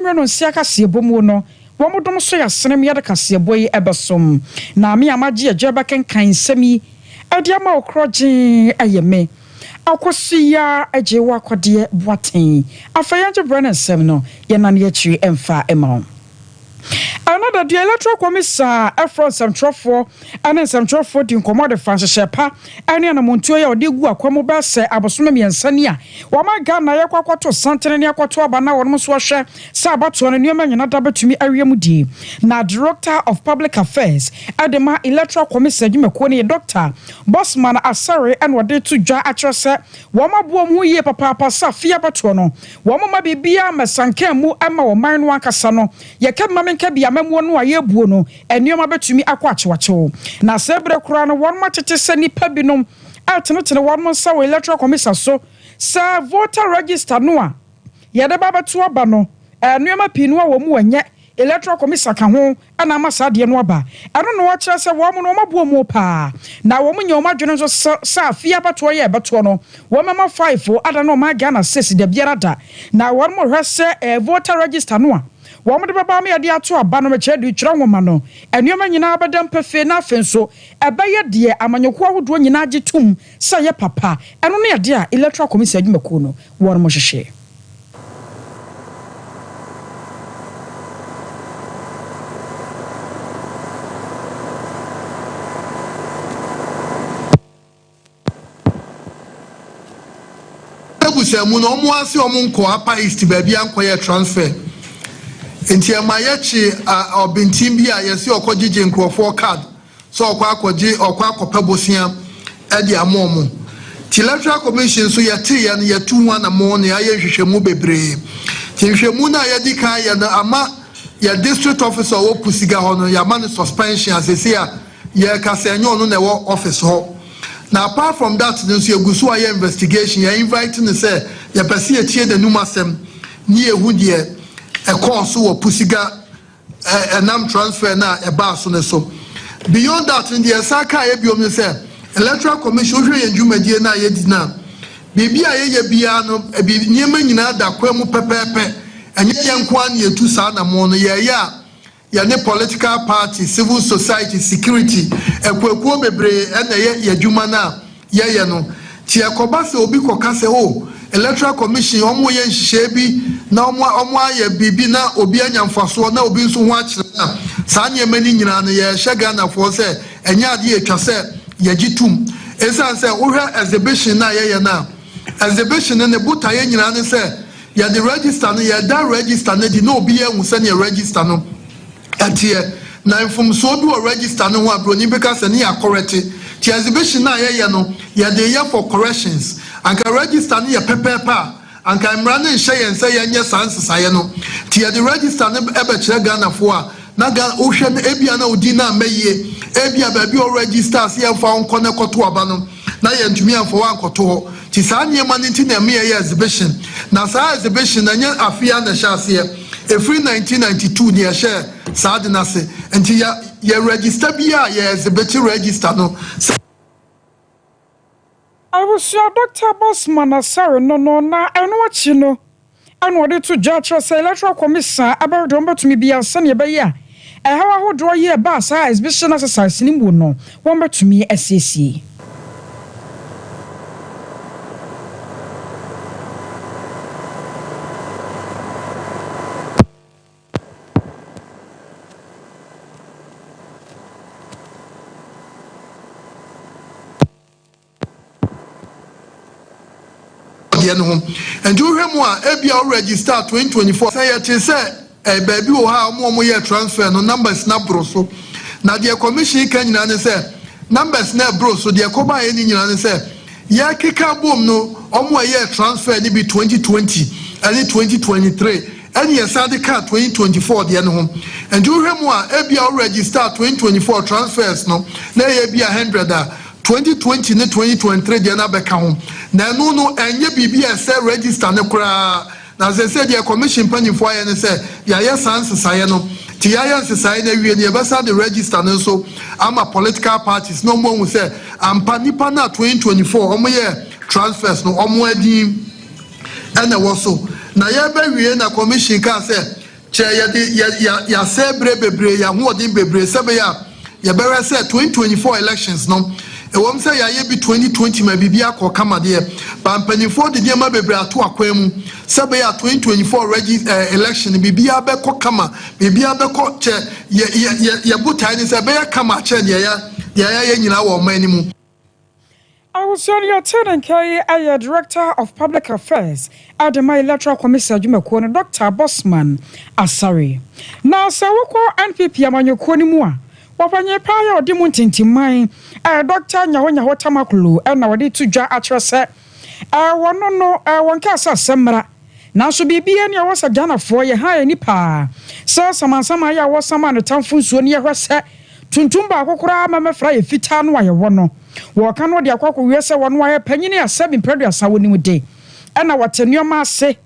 Mmerɛ no nseɛ kaseɛbɔ muo no, wɔn dom so ya sene me yɛde kaseɛbɔ yi bɛsom. Na me a magye agye rebɛkenkan nsɛm yi de ama wo korɔgyee ɛyɛ me akɔso yi ara agyee wo akɔdeɛ Boateng. Afei yɛngye berɛ ne nsɛm no yɛnane akyiri mfa ma wo. Ɛnnɛ da, deɛ Electoral Commiss a ɛfrɛ nsɛmtwerɛfoɔ ne nsɛmtwerɛfoɔ dii nkɔmmɔ de faa nhyehyɛɛ pa ne anammɔntuo yi a wɔde regu akwan mu bɛyɛ sɛ abosome mmiɛnsa ni a wɔma Ghana yɛkɔ akɔto santene ne akɔto aba na wɔnom nso wɔhwɛ sɛ abatoɔ no nneɛma nyina da bɛtumi awie mu die na Director of Public Affairs de ma Electoral Commission adwumakuo no yɛ Dɔkta Bossman Asare na ɔde reto dwa akyerɛ sɛ wɔn aboa wɔn ho yie papaapa sɛ afei abatoɔ no wɔn mma biribiara mmɛsanka mmu mma wɔn man no ankasa no yɛka bi ma menka bi amammuo no a yɛrebuo no Nneɛma betumi akɔ akyewakyew, na saa bere koro no wɔatete sɛ nnipa binom retenetene wɔn nsa wɔ Electoral Commission so sɛ voter register no a yɛde ba bɛto aba no, nneɛma pii no a wɔn mu ɛnyɛ Electoral Commission ka ho na ama saa adeɛ no aba. Ɛno na wɔkyerɛ sɛ wɔn no wɔabu wɔn pa ara, na wɔnya wɔn adwene nso sɛ afei abatoɔ yi a ɛbɛtoɔ no wɔbɛma faefo adane wɔn a Ghana States dabiara da, na wɔhwɛ sɛ voter register no a. Wɔde bɛba ama yɛde ato aba no rekyerɛ de retwerɛ nwoma no. Nneɛma nyinaa bɛda mu pefee na afei nso ɛbɛyɛ deɛ amanyɔkuo ahodoɔ nyinaa gye tom sɛ ɛyɛ papa. Ɛno ne adeɛ a Electoral Commission adwumakuo no wɔnom hwehwɛ. abusua mu no ɔmo ase ɔmo nkɔ upper east baabi a nkɔ yɛ transfer nti ɛma yɛkye ɔbenten bi a yɛsi ɔkɔ gyegye nkorɔfoɔ card sɛ ɔkɔ akɔgye ɔkɔ akɔpɛ bosea ɛde ama ɔmo ti electoral commission nso yɛte yɛn yɛtu ho anamɔn ne ayɛ nhwehwɛmu bebree ti nhwehwɛmu no a yɛdi kan yɛ no ama yɛ district officer ɔwɔ pusiga hɔ no yɛama no suspension asese a Yɛreka sɛ ɛnyɛ ɔno na ɛwɔ office hɔ. Na apart from that no nso yɛgu so ayɛ investigation. Yɛ invite no sɛ yɛpɛ sɛ yɛtie n'anum asɛm ne yɛhu deɛ ɛkɔɔ so wɔ Pusiga ɛnam transfer no a ɛbaa so no so. Beyond that no deɛ yɛsan kaeɛ biom ne sɛ Electoral Commission wohwɛ yɛn dwumadie no a yɛdi no a, biribi a yɛyɛ biara no nneɛma nyinaa da kwan mu pɛpɛɛpɛ. Ɛnyɛ yɛn nko ara na yɛtu saa anammɔn no. Yɛreyɛ a. Yɛne political party, civil society, security, akuakuo bebree na ɛyɛ y'adwuma no a yɛyɛ no. Nti ɛkɔba sɛ obi kɔka sɛ oh electoral commission wɔn reyɛ nhyehyɛɛ bi na wɔn a wɔn ayɛ biribi na obi anya mfasoɔ na obi nso ho akyerɛ no a, saa nneɛma no nyinaa no yɛrehyɛ Ghanafoɔ sɛ ɛnyɛ adeɛ a ɛtwa sɛ yɛgye tom. Ɛsiane sɛ wohwɛ exhibition no a yɛyɛ no a, exhibition no ne botaeɛ nyinaa ne sɛ Yɛde register no, yɛda register no adi na obiara ahu sɛnea register no teɛ. Na mfomsoɔ bi wɔ register no ho a broni bɛka sɛ ne yɛ akɔrɛte. Nti exhibition no a yɛyɛ no, yɛde yɛ for corrections. Anka register no yɛ pɛpɛɛpɛ a, anka mmara no nhyɛ yɛn sɛ yɛnyɛ saa nsesaeɛ no. Nti yɛde register no bɛkyerɛ Ghanafoɔ a, na Ghana, wohwɛ no, ebia na wo din no amma yie. Ebia baabi a wo register sɛ yɛmfa wo nkɔ na kɔto aba no, na yɛantumi amfa wo ankɔto hɔ. Nti saa nneɛma no nti na ɛma yɛyɛ exhibition. Na saa exhibition no, ɛnyɛ afe yi ara na ɛhyɛɛ aseɛ. Ɛfiri 1992 na yɛhyɛɛ saa ade no ase. Nti yɛ yɛ register biara a, yɛ exhibit register no sɛ. Abusua Doctor Boss Manasarr no no na ɛno akyi no. a na wɔde to dwa kyerɛ sɛ Electoral Commission a ɛbɛhwɛ deɛ wɔbɛtumi biara sɛdeɛ ɛbɛyɛ a ɛhaw ahodoɔ yi a ɛbaa saa exhibition exercise no mu no wɔbɛtumi asiesie. deɛ no ho. Nti wohwɛ mu a ebia wo register twenty twenty four sɛ yɛte sɛ ɛɛ baabi wɔ hɔ a wɔn a wɔyɛ transfer no numbers no aboro so na deɛ commission ka nyinaa ne sɛ numbers no ɛboro so deɛ ɛkɔbaeɛ no nyinaa ne sɛ yɛkeka abom no wɔn a ɛyɛɛ transfer no bi twenty twenty ɛne twenty twenty three ɛne yɛsan de kaa twenty twenty four deɛ no ho nti wohwɛ mu a ebia wo register twenty twenty four transfers no na ɛyɛ bi a hundred a Twenty twenty ne twenty twenty three deɛ no abɛka ho, na ɛno no ɛnyɛ biribi a ɛsɛ register no koraa, na seesei deɛ Commission mpanyinfoɔ ayɛ ne sɛ yɛayɛ saa nsesaeɛ no, nti yɛayɛ nsesaeɛ no awie no yɛbɛsan de register no nso ama political parties na wɔahu sɛ ampa nnipa no a twenty twenty four wɔyɛɛ transfers no wɔn din na ɛwɔ so, na yɛrebɛwie na Commission kaa sɛ Kyɛ yɛde yɛn asɛɛ berɛ bebree, yɛn ahoɔden bebree sɛbɛyɛ a yɛbɛhwɛ sɛ 2024 elections no, ɛwɔm sɛ yɛayɛ bi 2020 ma biribiara kɔɔ kama deɛ, but mpaninfoɔ de nneɛma bebree ato akwan mu sɛbɛyɛ a 2024 regi eh, election no biribiara bɛkɔ kama, biribiara bɛkɔ kyɛ yɛ, yɛ, yɛ, yɛ botae ne sɛ ɛbɛyɛ kama akyɛ deɛ yɛ, deɛ yɛayɛ nyinaa wɔ ɔman no mu. Awosua no yɛtee ne nka yi yɛ Director of Public Affairs de ma Electoral Commission adwumakuo no Dɔkta Bosman Asare. Na sɛ wokɔ NPP amanyɔkuo no mu a, ɔpanyin paa yɛ ɔde mu ntintimman ɛɛ Dɔkta Nyaho Nyaho Tamaklo na wɔde to dwa akyerɛ sɛ ɛɛ wɔno no ɛɛ wɔn nkaasasɛm mmra. Nanso biribi ani a ɛwɔ sɛ Ghanafoɔ yɛ ha ani paa sɛ samansaman yi a wɔsaman no tamfo nsuo no yɛhwɛ sɛ tuntum baako koraa mɛmɛ fra yɛ fitaa no a yɛwɔ no wɔɔka no de akɔ akɔwiɛ sɛ wɔn ayɛ panyini a sɛbi mprɛduasa wɔnim de ɛna wɔte nnoɔma ase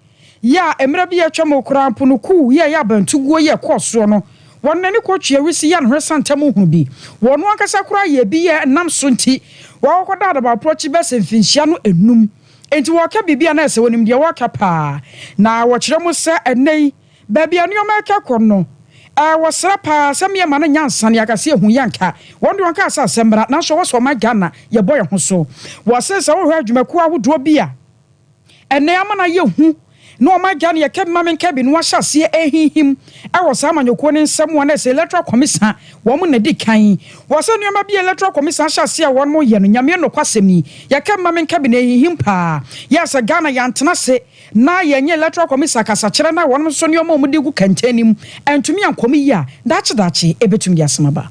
yɛ a mmerɛ bi a atwa mu koraa mpo no kuu yi a ɛyɛ abantuguo yi ɛkɔɔ soɔ no wɔn nani kɔ twe awisi yɛ anhwɛ sa ntam nhunu bi wɔn ankasa koraa yɛ bi yɛ ɛnam so nti wɔakɔkɔ da adabaporɔ kyi bɛsɛ mfinhyia no ɛnum. Enti wɔka biribi a na ɛsɛ sɛ wonim deɛ wɔreka paa, na wɔkyerɛ mu sɛ ɛnnɛ yi baabi a nneɛma reka kɔ no, ɛwɔ srɛ paa sɛ meɛma no nya nsa ne akasa yɛ hu yɛ nka. Wɔn deɛ wɔnkaa sɛ asɛm mmra, nanso ɛwɔ sɛ ɔman Ghana yɛbɔ yɛn ho so. Wɔse sɛ wohwɛ adwumakuo ahodoɔ bi a ɛnnɛ ama no ayɛ hu na wɔn agya no yɛ Kebimame Nkebi na wɔahyɛ aseɛ rehinhim wɔ saa amanyɔkuo no nsa mu a na ɛsɛ Electoral Commission wɔn na ɛdi kan. Wɔ sɛ nneɛma bi a Electoral Commission ahyɛ aseɛ a wɔn reyɛ no, Nyame nokwasɛm ni, yɛ Kebimame Nkebi na ɛrehinhim pa ara. Yɛ sɛ Ghana yɛantena ase na yɛnyɛ Electoral Commission akasakyerɛ no a wɔn nso nneɛma a wɔde regu kɛntɛn no mu antumi ankɔ mu yie a, daakye daakye ɛbɛtumi de asɛm aba.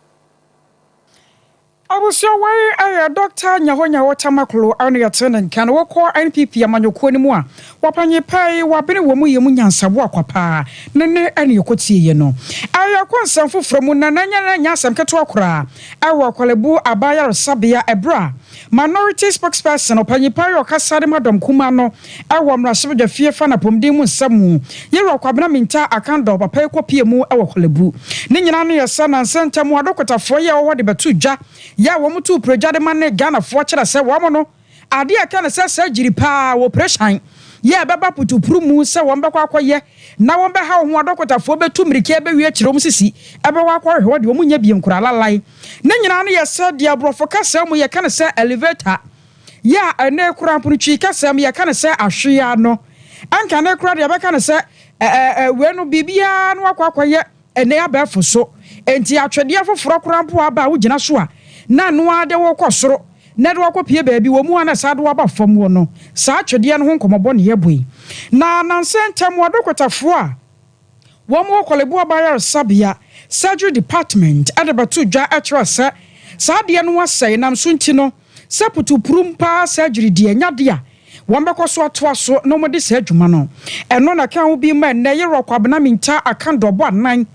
Abusua wei yɛ Dɔkta Nyahonyaho Tamaklo na yɛte ne nka na wɔkɔ NPP amanyɔkuo no mu a wɔpanyin paa yi wɔabene wɔ mu yɛ mu nyansaboa akwa paa ne ne na yɛkɔtie yɛ no ɛyɛ ɛkɔ nsɛm foforɔ mu na nanyɛ na nyɛ asɛm ketewa koraa ɛwɔ Akwalebu Abaa Yaresabea ɛberɛ a Minority Spokesperson ɔpanyin paa yi ɔkasa de ma dɔm kumaa no Wɔ Mmarahyɛbadwa fie fa no apɔmuden mu nsɛm mu, Yero Kwabena Mintaa Akan-Daw papa yi kɔ pia mu wɔ Korlebu. Ne nyinaa ano yɛ sɛ nnansa ntam Ado Kotaffoɔ yɛɛ hɔ de bɛtoo dwa, yɛ a wɔn too piregya de ma ne Ghanafoɔ kyerɛ sɛ wɔn no, adeɛ a ɛka ne sɛ saa gyiri pa ara wɔ oprehyɛn yɛ a ɛbɛba putupru mu sɛ wɔn bɛkɔ akɔ yɛ na wɔn bɛhaw ho Ado Kotaffoɔ bɛtu mmirika ɛbɛwie akyire wɔn sisi ɛbɛwɔ akɔ hwehwɛ hɔ deɛ wɔn nnya bi nkoraa lalai. Ne nyinaa ano yɛ sɛ deɛ aborɔfo kasa mu yɛ ka ne sɛ elevator. Yɛ a ɛnnɛ koraa mpo no Twi kasam yɛka no sɛ ahweaa no, anka ɛnnɛ koraa de yɛbɛka no sɛ wei no biribiara no akɔ akɔyɛ ɛnnɛ abɛɛfo so. Enti atwedeɛ foforɔ koraa mpo aba a wogyina so a na ɛno ara de wo rekɔ soro na ɛde wo akɔpue baabi wɔ mu a na ɛsan de wo aba fam hɔ no, saa atwedeɛ no ho nkɔmmɔbɔ na yɛbɔ yi. Na nnansa yi ntɛm, ɔdokotafoɔ a. Wɔwɔ Korle-Buah Bayaresabea Surgery Department de bɛtoo dwa kyerɛɛ sɛ saa adeɛ no asɛe nam so nti no, sɛ putupurum paa surgery deɛ ɛnyɛ adeɛ a wɔbɛkɔ so atoa so na wɔde saa adwuma no. Ɛno na ɛka ho bi ma ɛnnɛ Yerɔ Kwabena Mintah Akan Dɔbɔ Anan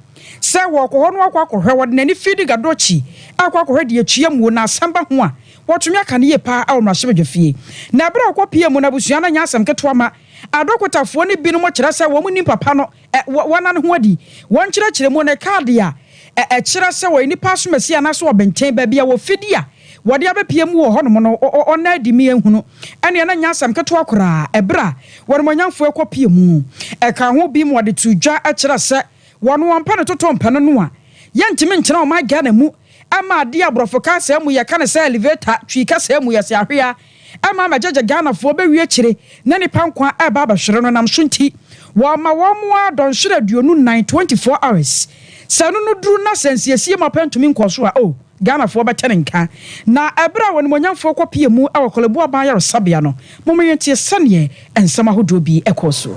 sɛ wɔkɔ hɔ na wɔakɔ akɔhwɛ, wɔde n'ani fidi Gadochi akɔ akɔhwɛ deɛ atua muo na asɛm ba ho a wɔtumi aka no yie paa wɔ mmarahyɛbadwafie. Na berɛ a ɔkɔpuee mu no abusua no anyɛ asɛm ketewa ma. Adɔkotafoɔ no binom kyerɛ sɛ wɔn nim papa no, ɛ, wɔ, wɔn da ne ho adi. Wɔn nkyerɛkyerɛmu ne kaade a, ɛ, ɛkyerɛ sɛ ɔyɛ nipa asomasie anaasɛ ɔbenten baabi a wɔ fidie a wɔde abɛpie mu wɔ hɔnom no, ɔ, ɔ, ɔnna adi me anhunu. Ɛnneɛ na ɛnyɛ asɛm ketewa koraa, ɛberɛ a wɔanimuonyamfoɔ rekɔ pie mu. Ɛkaa ho bi ma wɔde too dwa kyerɛ sɛ wɔn wɔn pɛ ne totompɛ no noa. Yɛntumi nkyena ɔman Ghana mu mma adeɛ a aborɔfo ka asɛm mu, yɛka ne sɛ elevator, Twi kasa mu, yɛse ahwea. ɛma mɛgyɛgyɛ Ghanafoɔ bɛwie akyire na nnipa nkwa a ɛreba abɛhwere no nam so nti, wɔma wɔn ara dɔnhwere aduonu nnan, 24 hours. Sɛ ɛno no duru na sɛ nsiesie mu apɛ ntumi nkɔɔ so a, oh, Ghanafoɔ bɛte ne nka. Na ɛberɛ a w'animuonyamfoɔ kɔpeɛ mu wɔ Korle Bu Aban Ayaresabea no, mommenyɛ nteɛ sɛdeɛ nsɛm ahodoɔ bi kɔɔ soɔ.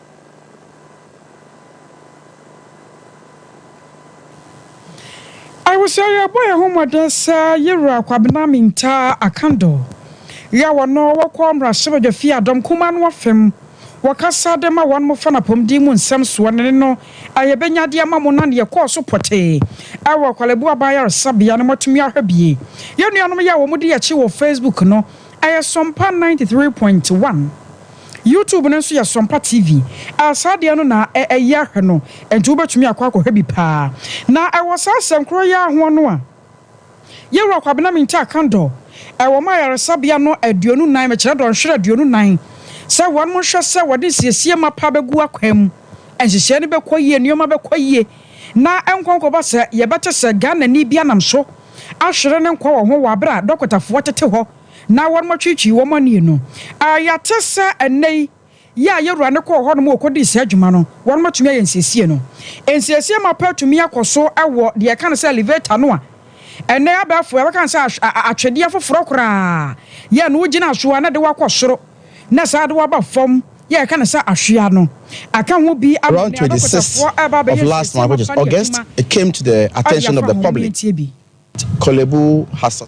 Awusoa yɛbɔ yɛn ho mmɔden sɛ yewura Kwabena Mintah Akando yɛ wɔn wɔkɔ mmarahyɛbadwafi adɔm kumaa no afem wɔ kasa de ma wɔn mofa no apɔmuden mu nsɛm soɔ ne ne no a yɛbɛnya de ama mo na ne yɛkɔɔ so pɔtee ɛwɔ Kwalebu aban ayaresabea no moatumi ahwɛ bie yɛn nuanom yɛ a wɔn di yɛakyi wɔ Facebook no ɛyɛ Sɔmpa ninety three point one. YouTube no nso yɛ Sompa TV a saa deɛ no na ɛyɛ ahwɛ no nti wobɛtumi akɔ akɔhwɛ bi paa. Na ɛwɔ saa asɛm korɔ yi ara ho no a Yɛwura Kwabena Mintah Kandor ɛwɔ ɔma ayaresabea no aduonu nan mekyerɛ dɔnhwere aduonu nan sɛ wɔn mo nhwɛ sɛ wɔde nsiesie mapa bɛgu akwan mu nhyehyɛɛ no bɛkɔ yie nnoɔma bɛkɔ yie na nkwa nkɔba sɛ yɛbɛte sɛ Ghanani bi anam so ahwere ne nkwa wɔ ho wɔ abere a dɔkotafoɔ tete hɔ na wɔtwetwee wɔn ani no. A Yɛate sɛ ɛnnɛ yi, yɛ a yɛwura no kɔɔ hɔnom kɔdii saa adwuma no, wɔatumi ayɛ nsiesie no. Nsiesie mapa atumi akɔ so wɔ deɛ yɛka no sɛ elevator no a ɛnnɛ abɛɛfo yɛbɛka no sɛ atwedeɛ foforɔ koraa yɛ na wogyina so a na ɛde wo akɔ soro na ɛsan de wo aba fam yɛ a yɛka no sɛ ahwea no. Ɛka ho bi ama Around nea 26th adɔkotafoɔ reba of abɛyɛ last nsiesie month, which is mapa no August, adwuma it came to the a attention of yɛafa the ho public, mmeranteɛ bi. Korle Bu Hassan.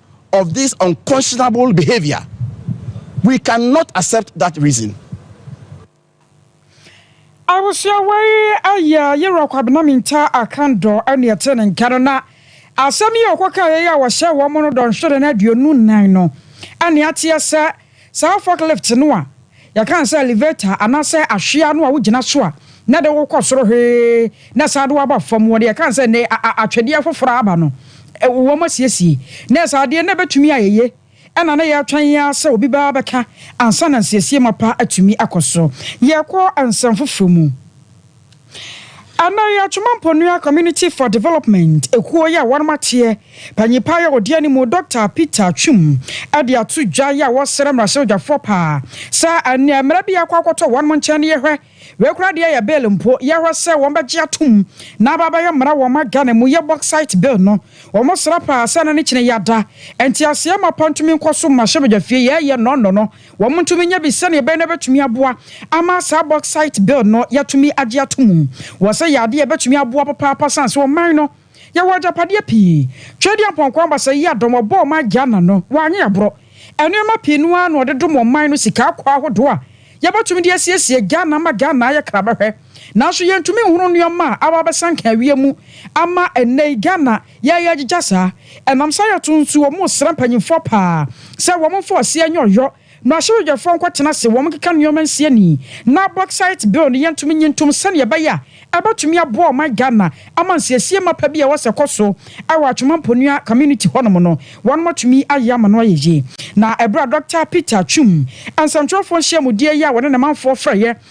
of this unconscionable behaviour, we can not accept that reason. Abusua wei ɛyɛ yerɔ Kwabena Minta Akandɔ ɛne ɛte ne nka no na asɛm yi a ɔkɔ kaeɛ yi a wɔhyɛɛ wɔn no dɔnhwere no aduonu nnan no ɛne ateɛ sɛ Saa forklift no a yɛka no sɛ elevator anaasɛ ahweaa no a wogyina so a na ɛde wo kɔ soro hwee na ɛsan de wo aba fam, wɔde yɛka no sɛ nnɛ atwedeɛ foforɔ a aba no, wɔasiesie na ɛyɛ saa adeɛ na ɛbɛtumi ayɛ ye ɛna na yɛretwɛn yi ara sɛ obi bɛba abɛka ansa na nsiesiema pa atumi akɔ so. Yɛrekɔ nsɛm foforɔ mu. Ana yi Atwoma Mponua Community for Development ekuo yi a wɔnom ateɛ panyin paa yi a ɔdi animu Dɔkta Peter Atwum ɛde ato dwa yi a wɔsrɛ mmarahyɛbadwafoɔ paa sɛ ɛneɛ mmara bi akɔ akɔtɔ wɔnom nkyɛn ne yɛhwɛ wei koraa deɛ ɛyɛ bill mpo yɛhwɛ sɛ wɔn bɛgye atom na aba abɛyɛ mmara wɔ ma Ghana mu yɛ Bauxite bill no wɔn srɛ paa sɛ ɛna ne kyene yɛ ada nteaseɛ ma pɔntumi nkɔ so mmarahyɛbadwafie yɛɛyɛ nnɔnnɔ no Wɔntumi nyɛ bi sɛnea ɛbɛyɛ na ɛbɛtumi aboa ama saa bauxite bill no yɛatumi agye ato mu. Wɔ sɛ yɛ adeɛ a ɛbɛtumi aboa papaapa sane sɛ ɔman no yɛwɔ agyapadeɛ pii. Twɛdi apɔnkɔ abasa yi adɔm ɔbɔɔ ma Ghana no wanyɛ aborɔ. Nneɛma pii no ara na ɔde dom ɔman no sika akwaa ahodoɔ a yɛbɛtumi de asiesie Ghana ma Ghana ayɛ krabɛhwɛ. Nanso yɛntumi nhunu nneɛma a aba abɛsanka awie mu ama ɛnnɛ yi Ghana Yɛ yɛ gyigya saa. Ɛnam saa yɛ to nso wɔn mo sra mpanyinfoɔ paa sɛ wɔn mfa ɔseɛ nyɛ ɔyɔ. Mmarahyɛbadwafoɔ nkɔ tena ase wɔn nkeka nnoɔma nsi ani na Bauxite bill no yɛ ntom nyi ntom sɛdeɛ ɛbɛyɛ a ɛbɛtumi aboa ɔman Ghana ama nsiesie mapa bi a ɛwɔ sɛ ɛkɔ so wɔ Atwoma Mponua community hɔ nom no wɔn atumi ayɛ ama no ayɛ yie. Na ɛberɛ a Dɔkta Peter Twum nsɛmtwerɛfoɔ nhyiamudeɛ yi a wɔne ne manfoɔ frɛeɛ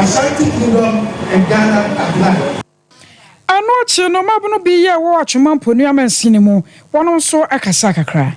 Ashanti Kingdom and Ghana at large. Ɛno akyi no, mmabunu bi a wɔwɔ Atwema Mponi amansin no mu, wɔnom nso kasaa kakra.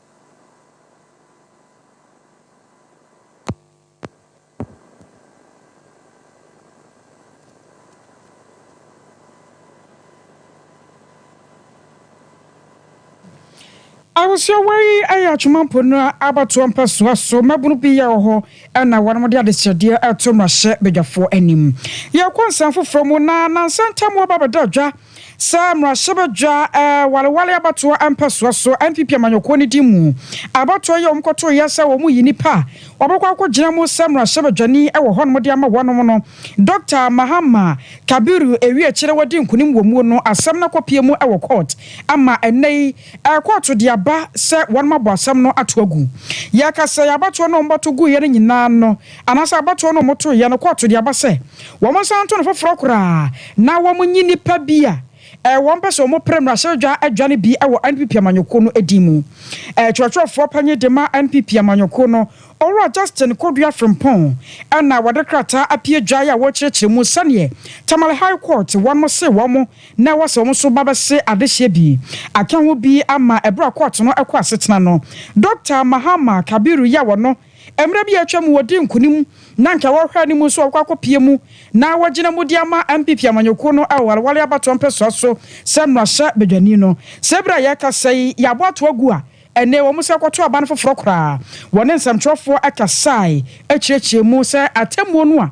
Ahosoawa yi yɛ Atwoma Po no abatoɔ mpɛsoa so mmabunu bi yɛ wɔ hɔ na wɔde adesrɛdeɛ reto mmarahyɛbadwafoɔ anim. Yɛrekɔ nsɛm foforɔ mu na nansa ntam wɔba abɛda dwa. Sɛ mmarahyɛbadwa wareware abatoɔ mpɛsoa so NPP amanyɔkuo no din mu abatoɔ yi a wɔkɔtoeɛ sɛ wɔyi nnipa a wɔbɛkɔ akɔgyina mu sɛ mmarahyɛbadwani wɔ hɔnom de ama wɔnom no, Dɔkta Mahama Kabiru Ewiekyere wadi nkunim wɔ mu no asɛm no akɔpue mu wɔ kɔɔt ama ɛnnɛ yi kɔɔto de aba sɛ wɔnom abɔ asɛm no ato agu. Yɛka sɛ abatoɔ no a wɔbɔto guiɛ no nyinaa no Anaasɛ abatoɔ no a wɔtoo yɛ no kɔɔto de aba sɛ wɔnsan nto no foforɔ koraa na wɔnyi nnipa bi a wɔpɛ sɛ wɔpere mmarahyɛbadwa adwa no bi wɔ NPP amanyɔkuo no din mu. Twerɛtwerɛfoɔ panin de ma NPP amanyɔkuo no, Owura Justin Kodua Frimpong na wɔde krataa apue gyae a wɔrekyerɛkyerɛ mu sɛdeɛ Tamale High Court wɔnom see wɔn na ɛwɔ sɛ wɔn nso ba bɛse adehyeɛ bi aka ho bi ama ɛberɛ a kɔɔto no kɔ asetena no. Dɔkta Mahama Kabiru yi a ɔno Mmere bi a atwam wɔdii nkonim na anka wɔrehwɛ anim nso a wɔkɔ akɔpia mu na wɔagyina mu de ama NPP amanyɔkuo no wɔ Wareware abatoɔ mpɛsoa so sɛ mmarahyɛ badwani no. Sɛ bere a yɛrekasa yi yɛabɔ ato agu a, ɛnnɛ wɔn san kɔtoo aban foforɔ koraa. Wɔne nsɛmtwerɛfoɔ kasae kyerɛkyerɛɛ mu sɛ atemmuo no a,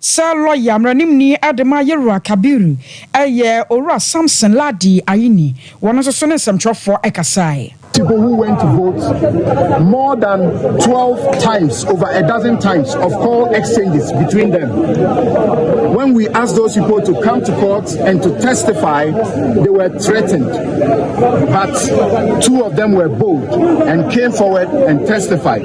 Sɛ lɔya mmaranimni Adema Yeruwa Kabiru yɛ Owura Samson Lardy Ayine, wɔno nso so ne nsɛmtwerɛfoɔ kasaeɛ. People who went to vote more than twelve times over a dozen times of call exchanges between them. When we asked those people to come to court and to testify, they were threatened. But two of them were bold and came forward and testified.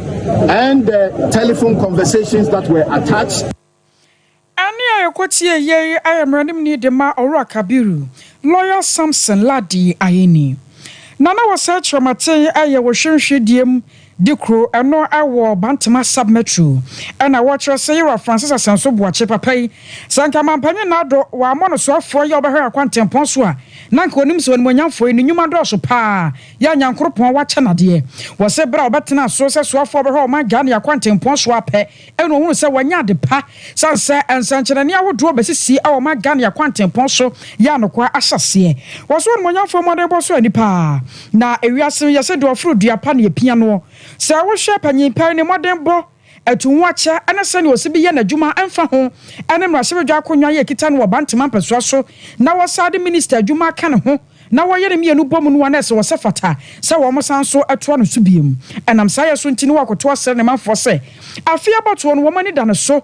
And the telephone conversations that were attached. Ɛnne a yɛkɔ tie yɛ yi ayɛ mmaranimni de ma Owura Kabiru, Lawyer Samson Lardy Ayeni. Na na wɔsɛe Kyerɛmaten yɛ wɔ Hwenhwe Diem de kuro ɛno wɔ Bantama Sub-Metro. Ɛna wɔkyerɛ sɛ Yewura Francis Asɛnso Boakye, papa yi, sɛ anka Mampanyin Nado wammɔ no soafoɔ yɛ ɔbɛhwɛ Akwantempɔn so a, na anka onim sɛ onimuonyamfoɔ yi ne nnwuma dɔɔso paa Yɛ a Nyankoropɔn wakyɛ no adeɛ. Wɔ se berɛ a ɔbɛtena aso sɛ soafoɔ bɛhwɛ ɔman Ghana ne akwantempɔn soɔ ara pɛ, ɛna ɔhunu sɛ wanya ade pa, sane sɛ nsɛnkyerɛnne ahodoɔ bɛsisi wɔ ɔman Ghana ne akwantempɔn so yɛ anokwaa ahyɛseɛ. Wɔ so Onimuonyamfoɔ mmɔdenbɔ so ani pa ara. Na ewiase no yɛ se deɛ ɔforo dua pa na ɛpia noɔ. Sɛ wo hwɛ Panyin Pɛn ne mmɔdenbɔ Atu ho akyɛ ne sɛnea osi bi yɛ n'adwuma ɛmfa ho ne mmarahyɛbadwa akonnwa a ɛkita no wɔ Bantama mpɛsoa so na wɔsan de minista adwuma aka ne ho na wɔyɛ no mmienu bɔ mu no a na ɛsɛ wɔsɛ fata sɛ wɔsan nso toa no so bio. Ɛnam saa yɛ so nti na wɔakoto asrɛ ne manfoɔ sɛ afei abatoɔ no wɔn ani da ne so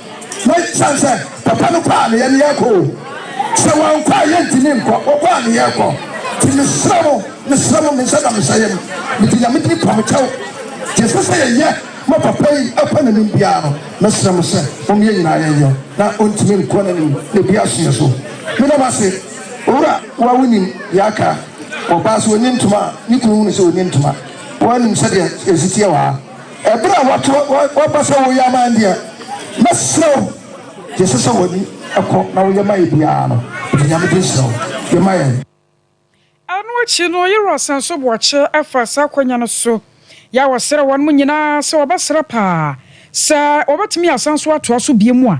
Na esiane sɛ papa no kɔɔ a na yɛne yɛrekɔ o, sɛ wankɔ a yɛntumi nkɔ, ɔkɔɔ a na yɛrekɔ. Nti mesrɛ mo, mesrɛ mo, me nsa da me nsa yam, mede Nyame din pa mo kyɛw, deɛ ɛsɛ sɛ yɛyɛ ma papa yi akɔ n'anim biara no, mɛsrɛ mo sɛ mom yɛn nyinaa yɛnyɛ na ɔntumi nkɔ n'anim na ɛbi aso yɛ so. Meda mo ase Owura. Wo a wonim deɛ aka, ɔbaa sɛ ɔnni ntoma a, ne kunu hunu sɛ ɔnni ntoma, woanim sɛdeɛ yɛsi teɛ wɔ ha. Ɛberɛ a woato w'aba sɛ woyɛ ama yɛn deɛ, mɛsrɛ wo, deɛ ɛsɛ sɛ w'ani kɔ na woyɛ ma yɛn biara no, bɔ Nyame din srɛ wo yɛ ma yɛn. Ɛno akyi no, Yeroas nso bɔɔ kyɛ faa saa akwanya no so. Yaw srɛɛ wɔnom nyinaa sɛ wɔbɛsrɛ paa sɛ wɔbɛtumi asan so atoa so bio mu a,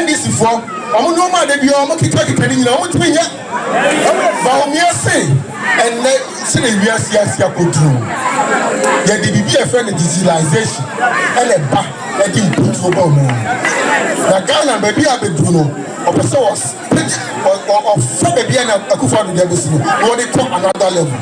NDC foɔ wɔn nnoɔma a da biara wɔn kita kita no nyinaa wɔn ntumi nyɛ. Bawumia se ɛnnɛ sɛ na wiase ase akɔduru yɛde biribi a ɛfrɛ no digitalization ɛna ɛba ɛde mputuo ba mu. Na Ghana baabi a bɛduru no ɔpɛ sɛ ɔfa baabi a na Akufo-Addo de abɛsi no na ɔde kɔ another level.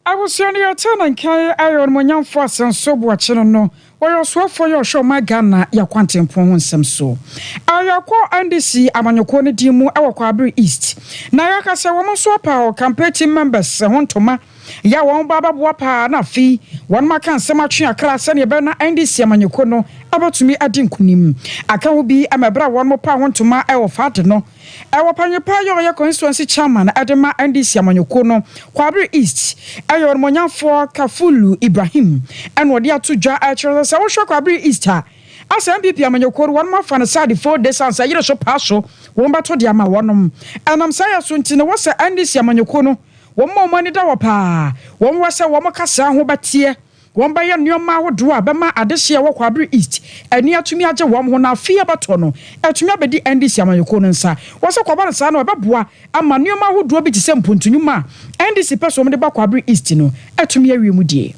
Abusua no yɛtee ne nka yi ɛyɛ ɔnumonyamfoɔ Asenso Boakyene no ɔyɛ ɔsoafoɔ yi ɔhwɛ ɔman Ghana yɛ akwantempɔn ho nsɛm so a yɛkɔ NDC amanyɔkuo no din mu wɔ Kwaabere East na yɛka sɛ wɔn nso apaw campaign team members ho ntoma yɛ a wɔn ba abɛboa paa na afei wɔn aka nsɛm atwe akra sɛdeɛ ɛbɛyɛ na NDC amanyɔkuo no bɛtumi adi nkunim aka ho bi ma ɛberɛ a wɔn paw ho ntoma wɔ Fade no Ɛwɔ paneɛpaa yɛ ɔyɛ constituency chairman de ma NDC amanyɔkuo no Kwabre East yɛ ɔnimɔnyanfoɔ Kafulu Ibrahim na ɔde ato dwa kyerɛ sɛ sɛ wohwɛ Kwabre East a asɛ NPP amanyɔkuo no wɔnom afa no sɛ ade four days ansa yere so paa so wɔn bɛto de ama wɔnom ɛnam saa yɛ so nti no wɔsɛ NDC amanyɔkuo no wɔn a wɔn ani da hɔ paa wɔn wɔ sɛ wɔn kasaa ho bɛteɛ Wɔbɛyɛ nneɛma ahodoɔ a ɛbɛma adehyeɛ wɔ Kwabre East ani atumi agye wɔn ho na afe a ɛbɛto no atumi abɛdi NDC amanyɔkuo no nsa. Wɔsɛ kɔba no saa no ɛbɛboa ama nneɛma ahodoɔ bi te sɛ mpuntu nnwuma a NDC pɛ sɛ wɔde ba Kwabre East no atumi awie mu die.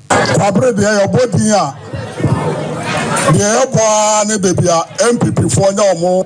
Kwabre deɛ yɛbɔ din a, deɛ yɛbɔ ara ne baabi a NPP foɔ nya wɔn.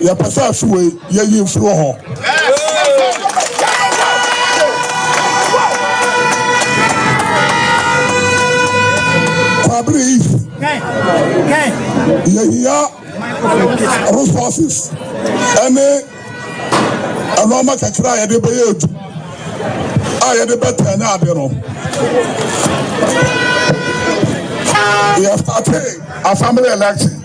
Yɛpɛ sɛ afe wei yɛyi mfiri wɔ hɔ. Kwabere Eve, yɛhia resources ɛne ɛnoɔma kakra a yɛde bɛyɛ adu a yɛde bɛtɛn ne ade no. Yɛstate assembly election.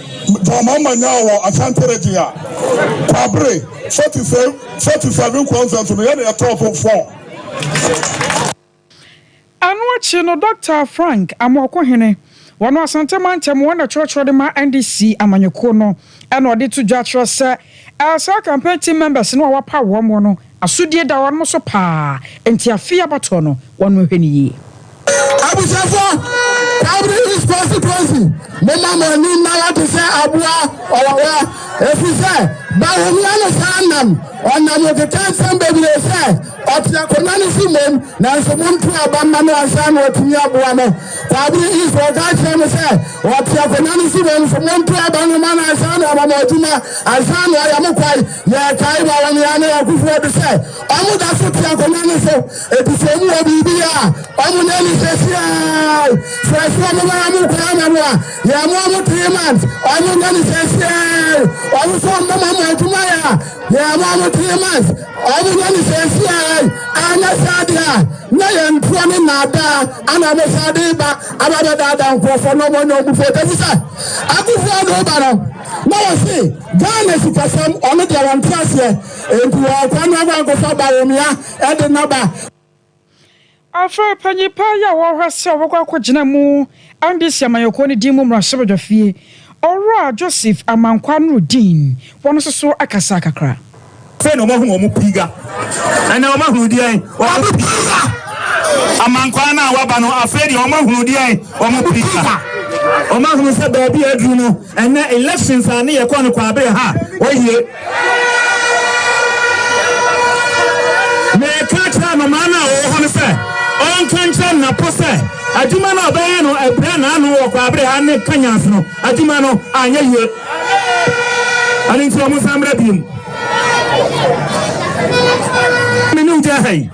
Dɔma Manyaa wɔ Asante Region a Kwabre 47 kɔ mfɛnso no yɛ nea ɛtɔɔ so four. Ɛno akyi no Dɔkta Frank Amoako-Hene, wɔno Asante Mantam wɔn na ɛtwerɛtwerɛ de ma NDC amanyɔkuo no ɛna ɔde to dwa kyerɛ sɛ Ɛɛ saa campaign team members no a wɔapaw wɔn mo no asodie da wɔn mo so paa nti afei abatoɔ no wɔn mo nhwɛ no yie. Abusuafoɔ, Calvary East Constituency, momma mo ani nna hɔ te sɛ aboa ɔwawa, ɛfiri sɛ Bawumia no san nam, ɔnam nkeka nsɛm bebree sɛ ɔte akonnwa no so mmom, nanso monto aba mma no ansa na watumi aboa mo. Saa bere yi nso ɔka kyerɛɛ me sɛ, Wɔte akonnwa no so wɔ mfommo ntoaba no ma no ansa na wɔama mo adwuma, ansa na wɔayɛ mo kwae. Yɛkae wɔ Awɔneaa ne Akufoɔ de sɛ, wɔda so te akonnwa no so, enti sɛ wɔwɔ biribi yɛ a, wɔnyɛ no seesei. Sɛ ɛsɛ sɛ wɔbɛma mo kwae ama mo a, yɛmmoa mo three months, wɔnyɛ no seesei. Wɔn nso wɔbɛma mo adwuma yɛ a, yɛmmoa mo three months, wɔnyɛ no seesei. Anyɛ saa deɛ a, Na yɛn nkoa ne nnaadaa ana mo saa de ba aba abɛdaadaa nkurɔfoɔ na wɔnyɛ wɔn foɔ tɛfi sɛ akufo ade woba no na wɔse Ghana sikasɛm ɔno deɛ wɔn te aseɛ enti wɔn akwa no akɔ akɔfa Bawumia ɛde naba Afei panyin paa yi a wɔhwɛ sɛ wɔbɛkɔ akɔgyina mu Andes amanyɔkuo no din mu mmarahyɛbadwafie Ɔwura Joseph Amankwah Nurudeen wɔn nso so akasa kakra. Afei na wɔahu wɔn piga. Ɛnnɛ wɔahunu deɛn? Wɔn piga. Amankwah no a wɔaba no, afei deɛ wɔahunu deɛn? Wɔn piga. Wɔahunu sɛ baabi a aduru no, Ɛnɛ elections a ne yɛ kɔ no kwaabere ha oye. Me ka kyerɛ anomaa no a ɔwɔ hɔ no sɛ ɔnka nkyerɛ nnapo sɛ adwuma no a ɔbɛyɛ no abira n'ano wɔ kwaabere ha ne kanyans no adwuma no anyɛ yie. Ɛno nti ɔmo nsan mmra biom. Me ne ogya ha yi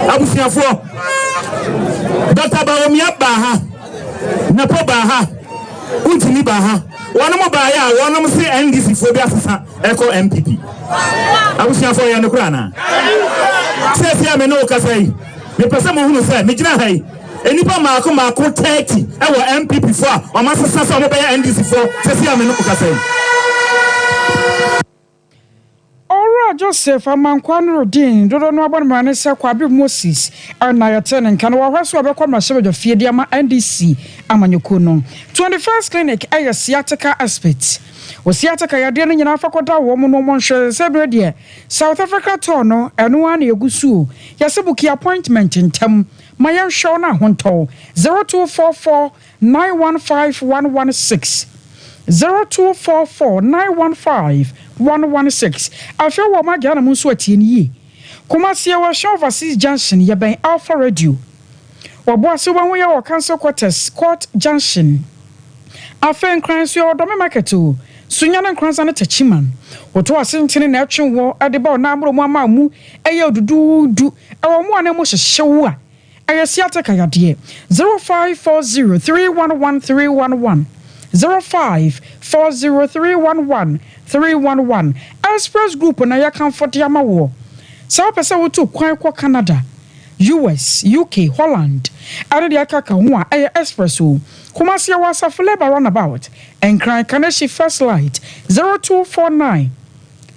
abusuafoɔ. Dɔkta Bawumia baa ha. Nepo baa ha, Ntini baa ha, wɔnom baeɛ a wɔnom se NDC foɔ bi asesa ɛkɔ NPP. Abusuafoɔ ɛyɛ nokorɛ anaa? Seesei a me ne wo kasa yi, mepɛ sɛ mo hunu sɛ megyina ha yi, nnipa mmaako mmaako 30 ɛwɔ NPP foɔ a wɔn asesa sɛ wɔn bɛyɛ NDC foɔ seesei a me ne wo kasa yi. Owura Joseph Amankwah Nurudeen, dodoɔ no ara bɔ no mmara ne sɛ Kwabio Moses na yɛtee ne nka no wɔ hɔ sɛ ɔbɛkɔ mmarahyɛbadwa fie de ama NDC amanyɔkuo no. Twenty First Clinic yɛ sciatica expert wɔ sciatica yadeɛ no nyinaa fa kɔda wɔn no wɔn hwɛ sɛ berɛ deɛ South Africa tɔɔ no ɛno ara na ɛgu so o. Yɛse book yɛ appointment ntɛm ma yɛnhwɛ wo na ahontɔw. Zero two four four. nine one five one one six, zero two four four nine one five one one six. Afei wɔ Magya na mo nso atie no yie. Kumasi yɛwɔ Ahyɛn Overseas Junction yɛbɛn Alpha Radio. Ɔboase wobɛhu yɛn wɔ Council Quarters, Court Junction. Afei Nkran nso yɛwɔ Dɔme Market o, Sunya ne Nkranza ne Techiman. Woto Asentene na ɛtwe woɔ de ba Ɔnammoro mu ama a mu yɛ duduudu ɛwɔ mo a na mu hyehye wo a, Ɛyɛ sciatica yadeɛ. Zero five four zero three one one three one one zero five four zero three one one three one one Express Group na yɛkamfo de ama woɔ. Sɛ wopɛ sɛ wotu kwan kɔ Canada, US, UK, Holland ɛne deɛ ɛkeka ho a, ɛyɛ Express o. Kumasi yɛwɔ Asafo Labour Runabout, Nkran, Kaneshie First Light zero two four nine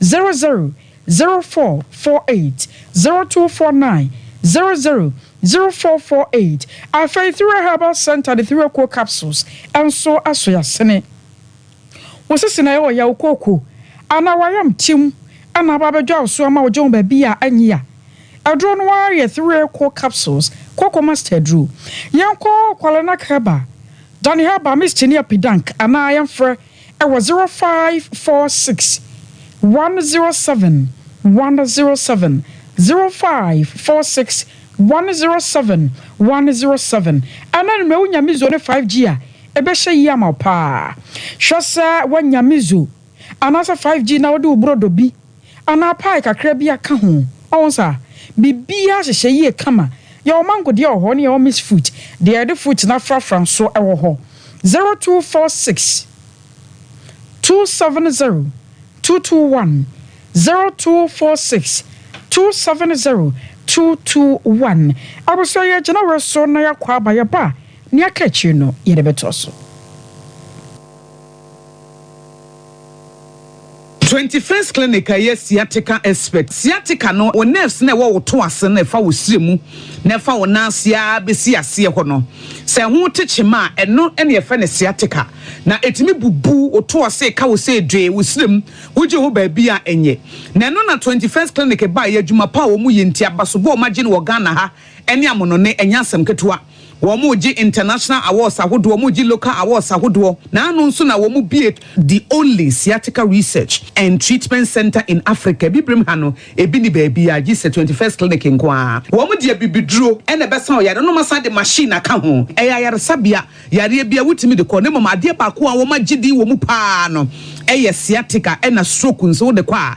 zero zero zero four four eight zero two four nine zero zero zero four four eight. Afei Thura Herbal Centre de Thura Kuo Capsules nso aso yɛasene wo sisi na ɛwɔ yaw kooko anaa w'ayamtim na aba abɛdwa wo so ama wo gye wo baabi a anyi a. Aduro no ara yɛ Thura Kuo Capsules, Kooko Master Aduro. Yɛnkɔ Kwale Nak Herbal, Dani Herbal Mist ne Apidank anaa yɛmfrɛ. Ɛwɔ zero five four six one zero seven one zero seven zero five four six one zero seven one zero seven ɛna no mɛwo nyame zo ne five G a ɛbɛhyɛ yie ama wo paa hwɛ sɛ woanya me zo anaasɛ five G na wode wo brɔdɔ bi anaa pie kakra bi aka ho. Ɔho nsa a, biribiara hyehyɛ yie kama. Yɛwɔ mango deɛ wɔ hɔ ne yɛwɔ mixed fruit, deɛ yɛde fruit no afrafra nso wɔ hɔ. Zero two four six, two seven zero, two two one, zero two four six, two seven zero, two two one. Abusua yɛ gyina wei so na yɛakɔ aba, yɛba a, nea aka akyire no yɛde bɛtoa so. Twenty First Clinic a ɛyɛ sciatica expert. Sciatica no, wo nerves no a ɛwɔ wo to ase no a ɛfa wo srɛ mu na ɛfa wo nan ase ara bɛsi aseɛ hɔ no, sɛ ɛho te kyema a, ɛno na yɛfrɛ no sciatica. Na ɛtumi bubu wo to ase ka wo sɛ dwee, wo srɛ mu, wogye ho baabi a ɛnyɛ. Na ɛno na Twenty First Clinic baeɛ, adwuma pa a wɔyɛ nti, abasobɔ a wɔagye no wɔ Ghana ha ne amonone, ɛnyɛ asɛm ketewa. Wɔregye international awards ahodoɔ, wɔregye local awards ahodoɔ, na ano nso na wɔbue the only sciatica research and treatment centre in Africa. Abibirem ha no, ebi nni baabiara gye sɛ Twenty First Clinic nko ara. Wɔde abibiduro na ɛbɛsa wo yareɛ no, na wɔasan de machine aka ho. Ɛyɛ ayaresabea yareɛ biara wotumi de kɔ, na mmom adeɛ baako a wɔagye din wɔ mu pa ara no yɛ sciatica ɛna stroke nso wode kɔ a,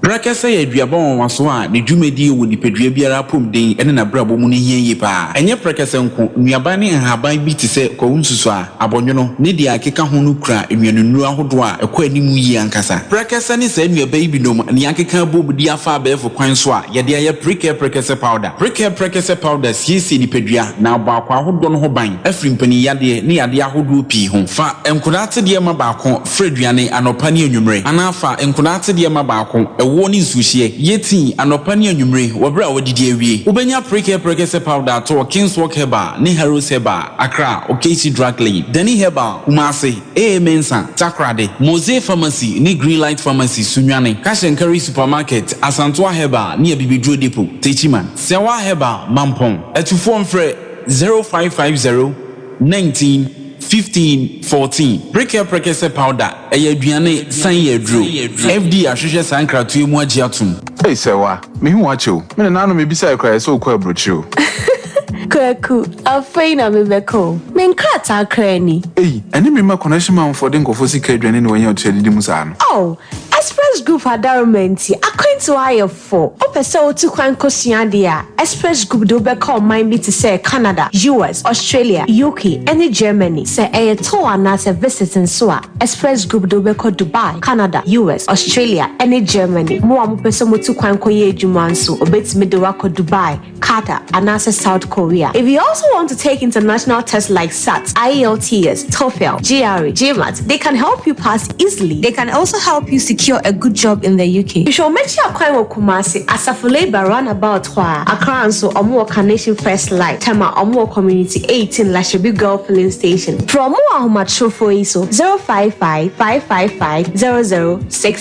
Prɛkɛsɛ yɛ aduaba nwanwaso a ne dwumadi wɔ nipadua biara apɔmuden ne n'abrabɔ mu no hia yie paa. Ɛnyɛ prɛkɛsɛ nko, nnuaba ne nhaban bi te sɛ kwawu nsusuaa, abɔnwono, ne deɛ ɛkeka ho no kura nnuanennuro ahodoɔ a ɛkɔ anim yie ankasa. Prɛkɛsɛ ne saa nnuaba yi binom na yɛakeka abom de afa abɛɛfo kwan so a yɛde ayɛ Prickle Prɛkɛsɛ Powder. Prickle Prɛkɛsɛ Powder siesie nipadua na abɔ akwaa ahodoɔ no ho ban afiri mpaninyadeɛ ne yadeɛ ahodoɔ pii ho. Fa nkodaa tsedeɛ ma baako. Fra aduane anɔpa ne anwummere, anaa fa nkwadaa atsedeɛ ma baako, ɛwoɔ ne nsuohyeɛ. Yɛ tii anɔpa ne anwummere wɔ berɛ a woadidi awie. Wobɛnya Prickle Prekese Powder atɔ wɔ King's Walk Herbal ne Harrods Herbal, Accra, Okeichi Drug Lane, Dani Herbal, Kumasi, AA Mensah, Takoradi, Mosey Pharmacy ne Green Light Pharmacy, Sunyani, Cash and Carry Supermarket, Asantewaa Herbal ne Abibiduro Depot, Techiman. Siawaa Herbal, Mampong. Atufoɔ mfrɛ 0550. Nineteen, fifteen, fourteen, Prekyɛ Prekyɛ sɛ powder, ɛyɛ aduane san yɛ aduro. FD ahwehwɛ saa nkratoɛ mu agye atom. Ei Sɛwa, me hu w'akyɛ o. Me nananom mebisaeɛ koraa yɛ sɛ wokɔ aburokyire o. Kwaku, afei na me bɛkɔ o. Me nkrataa koraa ni. Ei, ɛne me mma connection man foɔ de nkurɔfoɔ sika aduane ne wanya ɔtua didi mu saa no. Oh, Express Group adaroma nti akwantuo ayɛ fo. Wopɛ sɛ wotu kwan kosua ade a, Express Group de wo bɛkɔ ɔman bi te sɛ Canada, US, Australia, UK, ne Germany. Sɛ ɛyɛ tour anaasɛ visit nso a, Express Group de wo bɛkɔ Dubai, Canada, US, Australia, ne Germany. Mo a mopɛ sɛ mutu kwan kɔyɛ adwuma nso, wobetumi de wo akɔ Dubai, Qatar, anaasɛ South Korea. If you also want to take international tests like SAT, IELTS, TOEFL, GRE, GMAT, they can help you pass easily. They can also help you secure a good job in the UK. Hwehwɛ wɔn akyi akwan wɔ Kumasi, Asafo Labour Roundabout hɔ a. Accra nso, wɔwɔ Carnation First Light, Tema, wɔwɔ Community eighteen, Lahyebi Girl Filling Station. Frɛ wɔn wɔ ahomatrofoɔ yi so, 055 555 0063.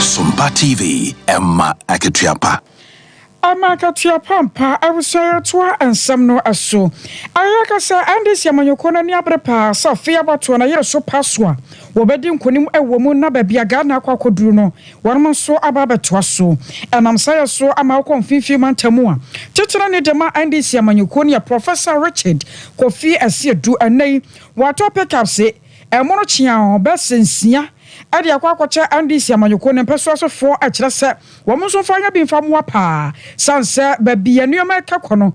Sompa TV, Emma Akatuapa. Emma Akatuapa mpa awusa yɛtoa nsɛm no so. Ayɛ kasa NDC amanyɔkuo no ani abere paa sɛ afei abatoɔ no yere so pa so a Wɔbɛdi nkonim wɔ mu na baabi a Ghana akɔ akɔduru no, wɔnom nso aba abɛtoa so. Ɛnam saa yɛ so ama wokɔ Mfinfii Mantamu a titire ne dema NDC amanyɔkuo no yɛ Professor Richard Kofi Asiedu. Ɛnnɛ yi, wɔatɔ pickups ɛmono kyeaa bɛs nsia de akɔ akɔkyɛ NDC amanyɔkuo no mpɛsoasofoɔ kyerɛ sɛ wɔnom nso mfa nyɛ bi mfa mmoa paa sane sɛ baabi a nneɛma ɛka kɔ no,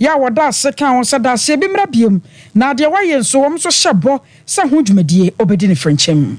Yɛ a wɔda ase ka ho sɛ daaseɛ bi mmra bio na deɛ wayɛ nso wɔn nso hyɛ bɔ sɛ ho dwumadie ɔbɛdi no frenkyɛm.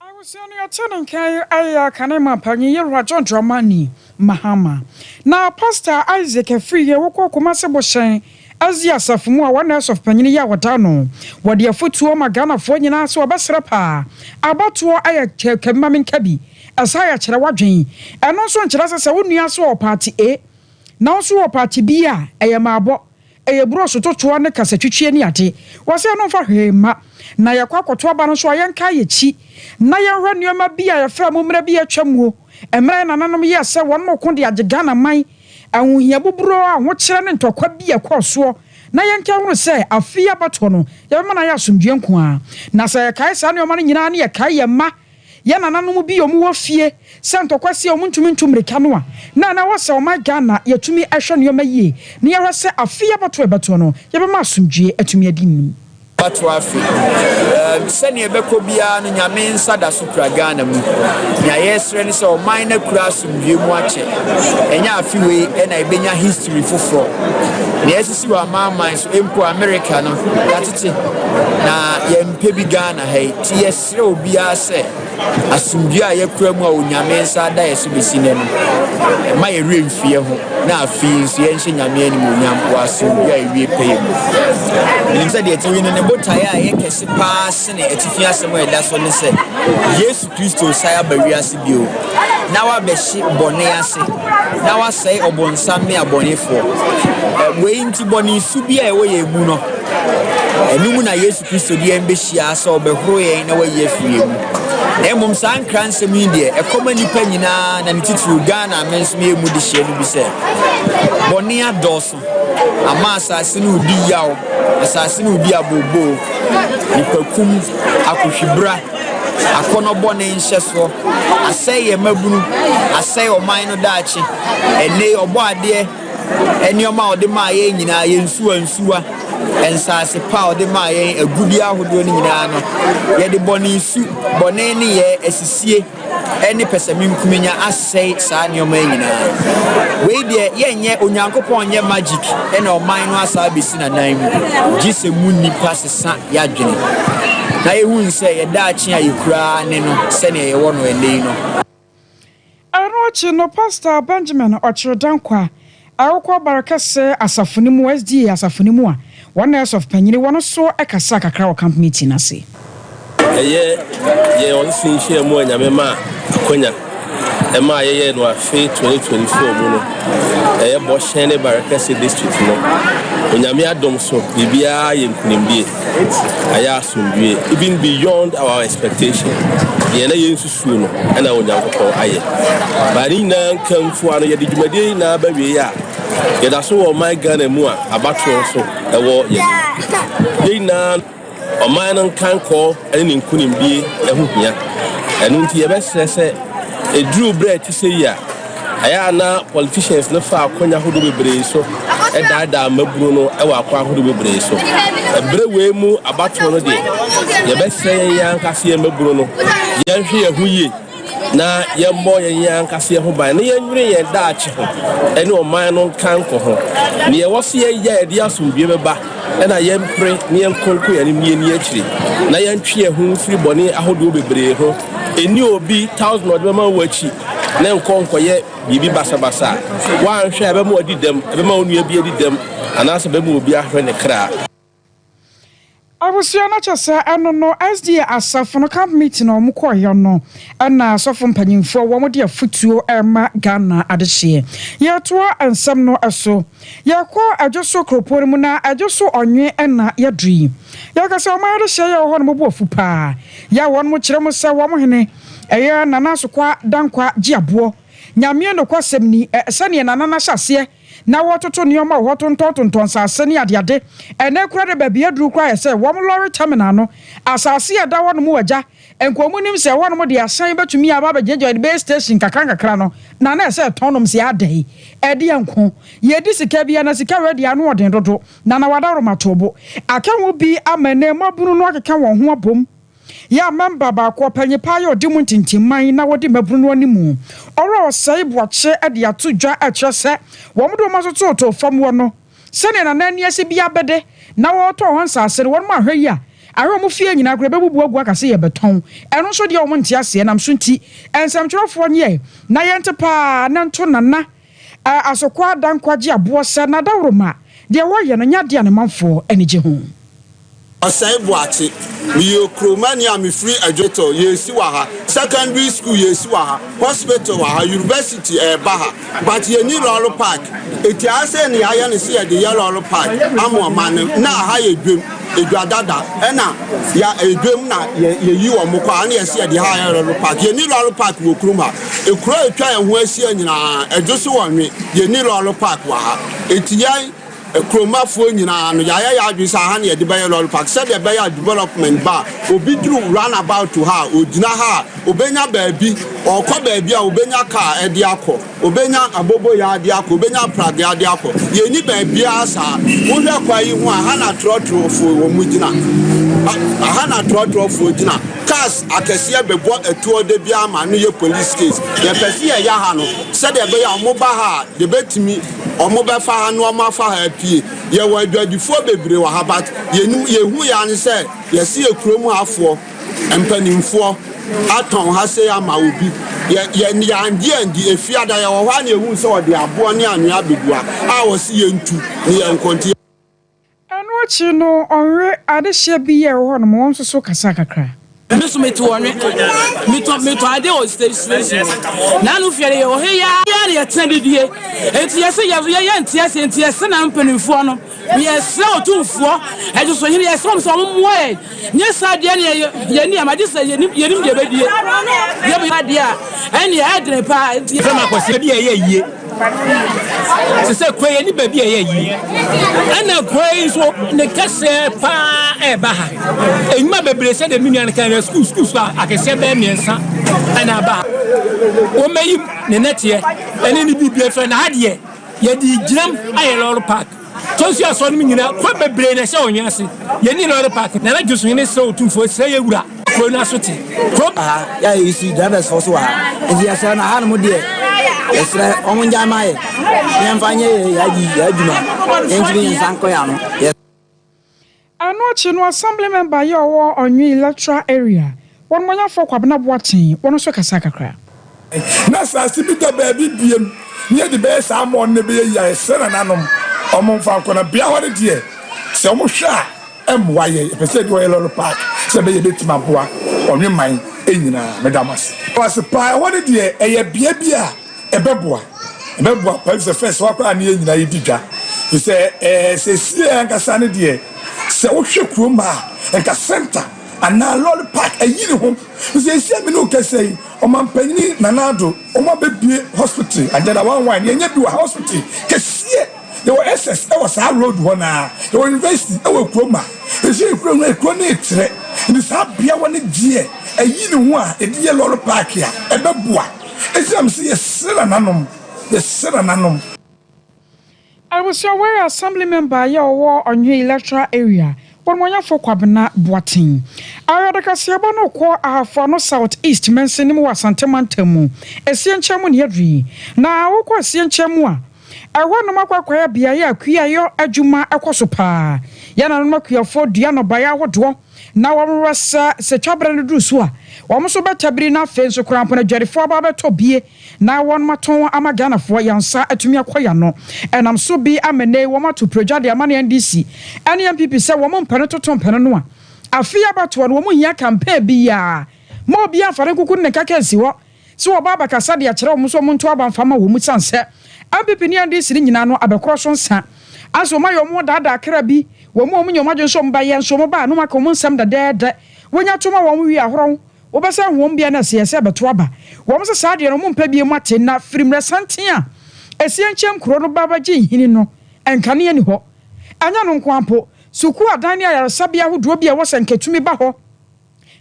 Abusua no yɛtee ne nka yi ayɛ aka ne ma panyin Yerajo Dramani Mahama na Pastor Isaac Afriyie wokɔɔ Kumasi Bohyɛn Asia Asafo mu a wɔn na ɛsɔfo panyin yi a wɔda no wɔde afotuo ma Ghanafoɔ nyinaa sɛ wɔbɛsrɛ paa abatoɔ ayɛ kɛbi ma menka bi ɛsaa yɛ kyerɛ wadwen ɛno nso nkyerɛ sɛ sɛ wo nua nso ɔwɔ party A na wo nso wɔ party B a ɛyɛ maabɔ Ɛyɛ brɔɔso totoa ne kasatwitweɛ ne ade. Wɔse ɛno mfa hwee mma. Na yɛkɔ akɔto aba no nso a, yɛnkaa yɛn akyi na yɛnhwɛ nneɛma bi a yɛfrɛ mo mmerɛ bi a atwa muo, mmerɛ a yɛn nananom yɛɛ sɛ wɔn reko de agye Ghana man, ahohia buburoo, ahokyerɛ ne ntɔkwa bi a ɛkɔɔ soɔ, na yɛnka nhunu sɛ afe yi abatoɔ no, yɛbɛma no ayɛ asomdwoeɛ nko ara. Na sɛ yɛkae saa nneɛma no nyina ara ne yɛkae yɛn mma, Yɛn nananom bi a wɔwɔ fie sɛ ntɔkwa sie a wɔntumi ntu mmirika no a, na na ɛwɔ sɛ wɔma Ghana yɛtumi hwɛ nneɛma yie na yɛhwɛ sɛ afe yi abatoɔ a ɛbɛtoɔ no, yɛbɛma asomdwoeɛ atumi adi nnim. Abatoɔ afe um sɛnea ɛbɛkɔ biara no, Nyame nsa da so kura Ghana mu. Nea yɛresrɛ ne sɛ ɔman no akura asomdwoeɛ mu akyɛ. Ɛnyɛ afe wei na yɛbɛnya history foforɔ. Nea asisi wɔ amanaman so, mpo Amerika no, yɛatete na yɛmpɛ bi Ghana ha yi. Nti yɛsrɛ. Serɛ obiara sɛ asomdwoe a yɛkura mu a Onyame nsa ada yɛ so besi nnɛ no, mma yɛn werɛ mfi yɛn ho, na afei nso yɛnhyɛ Nyame animuonyam wɔ asomdwoe a ewie pɛyɛ mu. Yenim sɛ deɛ ɛte yi ne ne botaeɛ a ɛyɛ kɛse paa sene atifi asɛm a ɛda so ne sɛ Yesu Kristo resan aba wiase bio na wabɛhye bɔne ase na wasɛe ɔbonsam ne abɔnefoɔ. Wei nti bɔne su bi a ɛwɔ yɛn mu no, ɛno mu na Yesu. Yesu Kristo de yɛn behyia sɛ ɔbɛhoro yɛn na wayi afi yɛn mu. Na mmom saa nkransɛm yi deɛ, ɛkɔma nnipa nyinaa na ne titiriw Ghana a me nso meyɛ mu dehyeɛ no bi sɛ, Bɔne adɔɔso ama asase no redi yaw, asase no redi abooboo, nnipakum, akohwibra, akɔnnɔ bɔne nhyɛsoɔ, asɛe yɛn mmabunu, asɛe ɔman no daakye, ɛnne, ɔbɔadeɛ, nneɛma a ɔde maa yɛn nyinaa, yɛn nsuwansuwa, nsaase pa a ɔde maa yɛn, agudeɛ ahodoɔ no nyinaa no, yɛde bɔne su, bɔne nneyɛɛ, asisie, ne pɛsɛmenkominya asɛe saa nneɛma yi nyinaa. Wei deɛ yɛnyɛ, Onyankopɔn nyɛ magic na ɔman no asa abɛsi n'anan mu, gye sɛ mu nnipa sesa yɛadwene na yɛhunu sɛ yɛn daakye a yɛkura ara ne no sɛdeɛ yɛwɔ no ɛnnɛ yi no. Ɛno akyi no, Pastor Benjamin Ɔkyere Danko a ɛwokɔ Barekɛse Asafo no mu, SDA Asafo no mu a wɔn na ɛsɔfo panyini wɔ no so kasaa kakra wɔ Camp Meeting no ase. Ɛyɛ yɛn ɔsese nhyiam a Nyame maa akwanya ɛmaa yɛyɛɛ no afe 2024 mu no. Ɛyɛ Bɔhyɛn ne Barekɛse District no. Onyame adom so biribiara yɛ nkunimdie. Ayɛ asomdwie even beyond our expectation. Deɛ na yɛnsusu. suo no na Onyankopɔn ayɛ. Baa ne nyinaa nkamfua no, yɛde dwumadie yi nyinaa ba wieɛ a, yɛda so wɔ ɔman Ghana mu a abatoɔ nso ɛwɔ yɛn anim. Yɛn nyinaa ɔman no nkankɔɔ ne ne nkonimdie ho hia. Ɛno nti yɛbɛsrɛ sɛ ɛduru berɛ a ɛte sɛ yi a, Ɛyɛ a na politicians no fa akwan ahorow bebree so daadaa mmabunu no wɔ akwan ahorow bebree so. Bere wei mu abatow no deɛ, yɛbɛsrɛ yɛn yɛn ankasa yɛn mmabunu no, yɛnhwɛ yɛn ho yie na yɛmmɔ yɛn yɛn ankasa yɛn ho ban na yɛnnwene yɛn daakye ho ne ɔman no nkanko ho. Nea ɛwɔ sɛ yɛyɛ a ɛde asomdwoe bɛba na yɛmpere na yɛnkɔ nkɔ yɛn anim na yɛnni akyiri, na yɛntwe yɛn ho mfiri bɔne ahodoɔ bebree ho. Nni obi thousand a ɔde bɛma wo akyi, na nkɔ nkɔyɛ biribi basabasa a woanhwɛ a ɛbɛma wadi dɛm, ɛbɛma wo nua bi adi dɛm, anaasɛ ɛbɛma obi ahwere ne kra. Abusua no kyɛ sɛ ɛno no SDA asafo no camp meeting a wɔkɔeɛ no na asɔfo mpanyimfoɔ wɔde afotuo rema Ghana adehyeɛ. Yɛretoa nsɛm no so. Yɛkɔ Adwoso kuropɔn mu na Adwoso ɔnwe na yɛduru yi. Yɛka sɛ wɔn adehyeɛ yɛ wɔ hɔ no mobu afu paa. Yɛ wɔnom kyerɛ mu sɛ wɔn hene ɛyɛ Nana Asokwa Dankwa Gyeaboɔ. Nyameɛ nokwasɛm ni, ɛ sɛdeɛ Nana no ahyɛ aseɛ na wɔretoto nneɛma wɔ hɔ tontɔn tontɔn nsaase ne adeade. Ɛnɛ koraa deɛ baabi aduru koraa ayɛ sɛ wɔn lɔre terminal no. Asaase a ɛda hɔnom wɔ agya. Nkrɔmu nim sɛ ɛhɔ nom de ahyɛn bɛtumi aba abɛgyina gyina base station nkakra nkakra no na na ɛsɛ ɛtɔn nom sɛ adɛn? Ɛdeɛ nko, yɛdi sika bia na sika wei deɛ ano ɔden dodo na na wadawroma too bo. Aka ho bi ama ɛnɛ mmabunu no akeka wɔn ho abom. Yɛn mɛmba baako ɔpanyin paa yɛ ɔde mu ntintimman na ɔdi mmabunu no animu. Ɔwura ɔsɛe boakye de ato dwa ɛkyerɛ sɛ wɔn de wɔn aso totoo fam hɔ no. Sɛdeɛ na na ani ase biara bɛdɛ na wɔretɔn hɔ nsase no, wɔnom ahwɛ yi a, ahwɛ wɔn fie nyinaa koraa ɛbɛbubu agu aka sɛ yɛrebɛtɔn. Ɛno nso deɛ wɔn nte aseɛ nam so nti, nsɛmtwerɛfoɔ no yɛɛ na yɛnte paa na nto Nana Asokwa Adankwagye aboɔ sɛ n'adaworoma deɛ wɔreyɛ no nyɛ adeɛ a ne manfoɔ ani gye ho. Osei Boakye, Meyɛ Okuromani a mefiri Adwotɔɔ, yɛresi wɔ ha, secondary school yɛresi wɔ ha, hospital wɔ ha, university ɛreba ha but yɛnni lɔre park, ɛti ayɛ sɛ nea yɛayɛ no sɛ yɛde yɛ lɔre park ama ɔman no, na aha yɛ dwam, dwa dada ɛna yɛ ɛyɛ dwam na yɛyi wɔn kɔ a na yɛse yɛde ha ayɛ lɔre park, yɛnni lɔre park wɔ kurom ha, kuro a ɛtwa yɛn ho ahyia nyinaa ɛdwo so wɔ nwe, yɛnni lɔre park wɔ ha, ɛti yɛn. Kurom afoɔ nyinaa no yɛayɛ yɛn adwene sɛ aha na yɛde bɛyɛ lorry park sɛdeɛ ɛbɛyɛ a development ba a obi duru run about ha a ɔgyina ha a ɔbɛnya baabi ɔrekɔ baabi a ɔbɛnya car ɛde akɔ ɔbɛnya aboboyaa ɛde akɔ ɔbɛnya apradeɛ ɛde akɔ yɛn ni baabiara saa wohwɛ kwan yi ho a aha na trɔtrɔfoɔ wɔn mu gyina aha na trɔtrɔfoɔ gyina cars akɛseɛ bɛbɔ atuo da biara ma no yɛ police case yɛpɛ sɛ yɛyɛ ha no sɛdeɛ ɛbɛyɛ a wɔn ba ha a yɛbɛtumi Ɔmo bɛ fa ha na ɔmo afa ha apue. Yɛ wɔ adwadifoɔ bebree wɔ ha but yɛ nim yɛ hu yɛ ane sɛ yɛ se yɛ kurom ha foɔ mpaninfoɔ atɔn ha sei ama obi. Yɛ yɛ yɛ angye andi efiada yɛ wɔ hɔ a na yɛ hu sɛ ɔde aboɔ ne anwea abɛgu ha a ɔse yɛ ntu ne yɛ nkɔ nti yɛ. Ɛno akyi no, ɔnwe adehyeɛ bi a ɛwɔ hɔnom, wɔn nso so kasaa kakra. Me nso me to ɔnwe. Metɔ metɔ adeɛ wɔ stage station hɔ. N'ano fia no yɛwɔ he yi ara na yɛtena didie. Enti yɛse yɛ yɛ yɛnte aseɛ nti yɛse na mpanimfoɔ no yɛsrɛ otumfoɔ, ɛdwosohene yɛsrɛ wɔn sɛ wɔn mmoa yɛn. Nyɛ saa deɛ ɛneɛ yɛni ama gye sɛ yɛnim yɛnim deɛ bɛdie yɛm yɛ adeɛ a ɛneɛ ɛdene paa nti sɛ makɔsi baabi a ɛyɛ yie te sɛ kue yɛni baabi a ɛyɛ yie ɛna kue yi nso ne kɛseɛ paa ɛba ha ɛnwuma bebree sɛ deɛ me nua no kan yɛ sukuu sukuu so akɛseɛ bɛɛ mmiɛnsa ɛna aba ha wɔmɛyi ne nɛteɛ ɛne ne biribi afiri na ha deɛ yɛde gyinam ayɛ lɔre park Tosu asoa no mu nyinaa, kwan bebree na ɛhyɛ ɔnwɛn ase. Yennii Lɔre Park, na na Josu hene srɛ Otumfoɔ, Srɛ yɛn wura, kuro no aso te. Kuro. Wɔ ha, yɛ a yɛresi drivers foɔ so wɔ ha, nti yɛsrɛ no, hanom deɛ, yɛsrɛ wɔn ngyae ma yɛ, na yɛmfa nyɛ yɛ yɛ ade yi, yɛ adwuma, yɛnkyere yɛn nsa nkɔ yɛ ano, yɛsrɛ. Ɛno akyi no Assembly member yi a ɔwɔ Ɔnwe electoral area, Wɔnmɔnyɛfoɔ Kwabena Boakyen, ɔno nso kasaa kakra. Na asase bi da baabi biem na yɛde bɛyɛ saa ama wɔn na ɛbɛyɛ yie ayɛ sɛ nananom wɔn mfa nkɔ na bea hɔ no deɛ sɛ wɔn hwɛ a ɛmmoa yɛn yɛpɛ sɛ yɛde hɔ yɛ lɔre park sɛ ɛbɛyɛ yɛbɛtumi aboa ɔnwe man nyinaa meda mo ase. Mo ase paa ɛhɔ no deɛ ɛyɛ bea bi a. Ɛbɛboa, ɛbɛboa paa efisɛ fɛs hɔ koraa ne yɛn nyinaa yɛdi dwa. Efisɛ ɛɛ sesie ankasa no deɛ sɛ wohwɛ kurom a nka center anaa lɔre park ayi ne ho. Efisɛ esia me ne wo kasa yi ɔmanpanyin Nana Addo wɔn abɛbue hospital and then awan wan yɛnyɛ bi wɔ ha hospital kɛseɛ yɛwɔ SS ɛwɔ saa road hɔ no ara yɛwɔ university ɛwɔ kurom a efisɛ yɛ kuro no yɛ kuro no retrɛ nti saa beawa no deɛ ayi ne ho a yɛde yɛ lɔre park a ɛbɛboa. Esiam se yɛsera n'anom, yɛsera n'anom. Abusua Ware Assembly Member yɛ ɔwɔ Ɔnhwe Electoral Area, Onumɔnyɛfo Kwabena Boateng. Ɔyɛ ɔdekaseɛba no kɔ Ahafo Ano South East Mansin no mu wɔ Asante Mantam mu, Asie Nkyɛn mu ne Adwiri. Na wokɔ Asie Nkyɛn mu a, ɛhɔ nom akwaakwaayɛ beaɛ a kuayɔ adwuma kɔ so paa. Yɛn nananom akuafoɔ dua nnɔbaeɛ ahodoɔ. Na wɔwowɔ sɛ sɛ twabere no duru so a, wɔn nso bɛtabiri na afei nso koraa mpo no adwadifoɔ aba abɛtɔ bie na wɔatɔn wɔn ama Ghanafoɔ, yɛn nsa atumi akɔ yɛn ano. Ɛnam so bi ama nnɛ yi wɔato pire dwa de ama ne NDC ne NPP sɛ wɔn mpene toto mpene no a, afei abatoɔ no wɔnhia campaign biara. Mma obiara mfa ne nkuku ne ne nkaka nsi hɔ. Sɛ wɔba abɛkasa de akyerɛ wɔn sɛ wɔnto aba mfa mma wɔn sane sɛ NPP ne NDC no nyinaa no abɛkorɔ so nsa ansa wɔn ayɛ wɔn ho daadaa kra bi wɔn mu a wɔn nya wɔn adwene sɛ wɔn ba yɛ nso wɔn ba a na wɔn aka wɔn nsɛm dɛdɛɛdɛ wɔnya to ma wɔn wie ahorɔ ho wɔbɛsan ho wɔn bia na ɛsɛ yɛ sɛ ɛbɛto aba wɔn sɛ saa deɛ no wɔn mpɛ biem ate na firi mmerɛ santen a ɛsiɛ nkyɛn nkuro no ba bɛgye nhini no nkanea ni hɔ ɛnyɛ no nko ara mpo sukuu adan ne ayaresabea ahodoɔ bi a ɛwɔ sɛ nkɛtumi ba hɔ.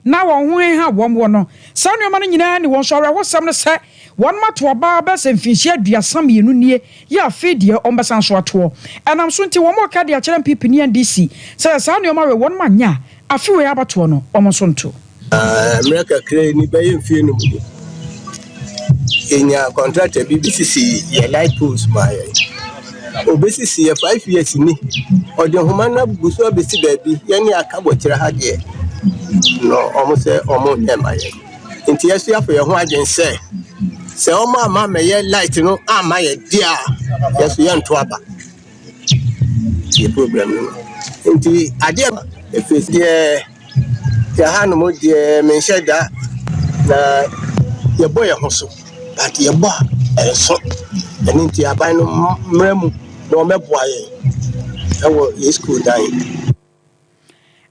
na wɔn ho heha wɔn wɔ no. Saa nneɛma no nyinaa ni wɔn so. Awerɛhosɛm ne sɛ, wɔnom ato abaa bɛyɛ sɛ mfinhyia aduasa mmienu nie, yɛ afei deɛ wɔbɛsan so atoɔ. Ɛnam so nti, wɔnom reka de akyerɛ mpipini NDC sɛ sɛ saa nneɛma wei wɔnom anyɛ a, afe wei abatoɔ no, wɔn nso nto. Mmerɛ kakraa ni, bɛyɛ mfeɛ num ni, yɛnyaa kɔntrata bi bɛsisi yɛn light poles maa yɛn. Obesisi yɛ five years ni ɔde nhoma no abubu so abesi baabi yɛne aka bɔ kyerɛ ha deɛ no ɔmo sɛ ɔmo nyɛ ma yɛn nti yɛso yɛafɔ yɛn ho adwene sɛ sɛ ɔmo ama mɛyɛ light no ama yɛ deɛ a yɛso yɛnto aba yɛ problem no nti adeɛ ɛfiri deɛ Yɛhanom deɛ menhyɛ da na yɛbɔ yɛn ho so but yɛbɔ a ɛnso ɛno nti aban no mmra mu na wɔbɛboa yɛn ɛwɔ yɛn sukuu dan yi.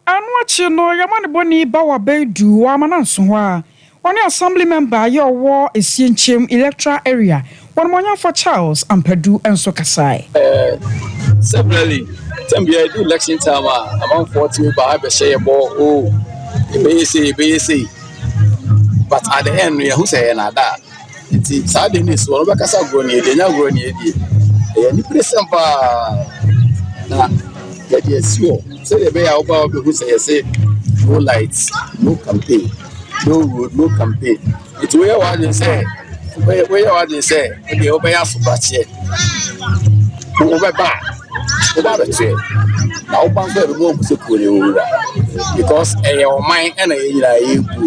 Ɛno akyi no yɛma no bɔ ni ba wɔ abɛɛduu wɔ Amanansoho a Ɔne Assembly Member a yɛ ɔwɔ Asienkyem Electoral Area, Wɔnimɔnyamfoɔ Charles Ampadu nso kasae. Sɛberɛle, tam biara ɛdu election time a, amanfoɔ tumi ba bɛhyɛ yɛ bɔ, oh, yɛbɛyɛ sei, yɛbɛyɛ sei, but at the end no, yɛhu sɛ ɛyɛ nnaadaa. Nti saa deɛ no ɛsi hɔ no wobɛka sɛ agorɔ ne ɛdi ɛnyɛ agorɔ ne ɛdi ɛyɛ aniberesɛm paa na yɛde asi hɔ sɛdeɛ ɛbɛyɛ a woba a wobɛhu sɛ yɛse no light no campaign no road no campaign nti woyɛ w'adwene sɛ woyɛ w'adwene sɛ wodeɛ wobɛyɛ asoprakyeɛ wobɛba a woba abɛkyerɛ na woba nso ɛbɛma ɔhu sɛ kuo ne wowura because ɛyɛ ɔman ɛna yɛ nyinaa yɛgu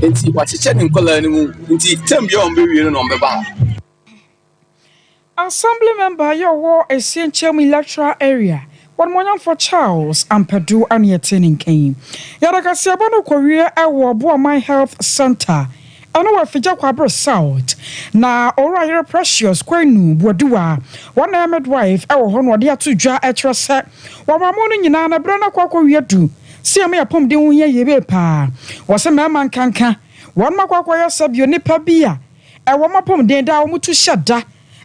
Nti wakyekyɛ ne nkwadaa no mu nti tam bia wɔn bɛwie no na wɔn bɛba ha. Assembly member yɛ ɔwɔ Asienkyem electoral area wɔnumonyamfoɔ Charles Ampadu a ne ɛte ne nka yi yɛde kaseɛbɔ no rekɔwie ɛwɔ Boaman health centre ɛno wɔ Afigya Kwabre south na Owura Yere Precious Kwenu Boadiwa wɔn na ɛyɛ midwife ɛwɔ hɔ no ɔde ato dwa ɛkyerɛ sɛ Wɔ mmamu no nyinaa no, bere no akɔ akɔwie adu sɛ yɛma yɛn apɔmuden ho hia yiye paa. Wɔse mmarima nkanka wɔnom akɔ akɔyɛ sɛ bio nnipa bi a ɛwɔ wɔn apɔmuden daa a wɔn tu hyɛ da.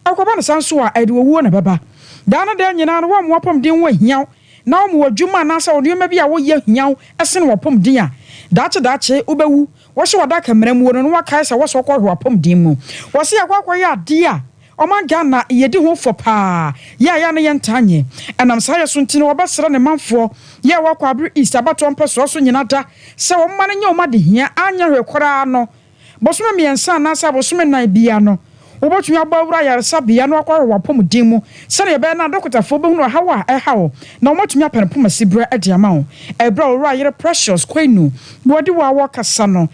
Ɛkɔba no saa nso a, ɛde owuo na ɛbɛba. Daa no daa nyinaa no, wɔn apɔmuden ho ahia wo na wɔn adwuma anaasɛ wɔn nneɛma bi a wɔyɛ hia wo sen wɔn apɔmuden a daakye daakye wobɛwu. Wɔhyɛ wo adaka mmerɛmuo no na wɔakae sɛ wɔsɛ wɔkɔ hwɛ w'apɔmuden mu. Wɔse yɛkɔ akɔyɛ adeɛ a Ɔman Ghana yɛdi ho fɔ paa yɛ a yɛ a na yɛntaa nyɛ. Ɛnam saa yɛ so nti na wɔbɛsrɛ ne manfoɔ yɛ a wɔkɔ Abere East abatoɔ mpɛsoa so nyina da sɛ wɔmma no nyɛ wɔn adehia anyɛ hwee koraa no bosome mmiɛnsa anaasɛ abosome nnan biara no wobɛtumi abɔ awura ayaresabea na wakɔ ahwɛ wɔ apɔmuden mu sɛdeɛ ɛbɛyɛ no a dɔkotafoɔ bɛhunu ɔhaw a ɛreha wo na wɔatumi apɛ no poma siberɛ de ama wo. Ɛberɛ a Owura Yere Precious Kwainu Boadiwa rekasa no,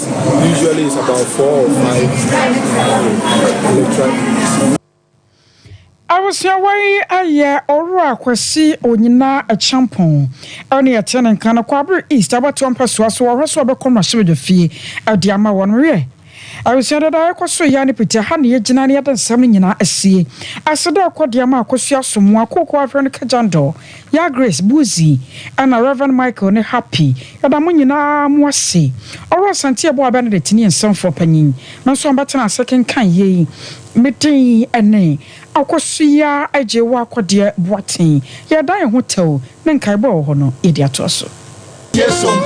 Usually it's about four or five electoral Abusuawa yi ayɛ Owura Kwasi Onyina Akyampong ɛne ɛte ne nka no Kwabere East abatoɔ mpɛsoa so wɔhwɛ so ɔbɛkɔ mmarahyɛbadwa fie ɛde ama wɔn wiɛ. Abusua dada yɛkɔ so yɛ ne piti ɛha na yɛgyina na yɛde nsɛm no nyinaa asie ase dɛ ɛkɔ deɛ ma akosua so mmoa kooko ahwɛ no kagyan dɔ. Yagres, Buzi, ɛna Rev. Michael ne Happy. Yɛda mo nyina ara mo ase. Ɔwora Asante Abua Benedict ne yɛn nsɛmfoɔ panyin no nso ambɛtena ase kenkan yei. Me din ɛne, Akosua Agyewoakɔdeɛ Boateng. Yɛreda yɛn ho tɛw ne nkaebɔ a ɛwɔ hɔ no yɛde atoa so. Yɛsom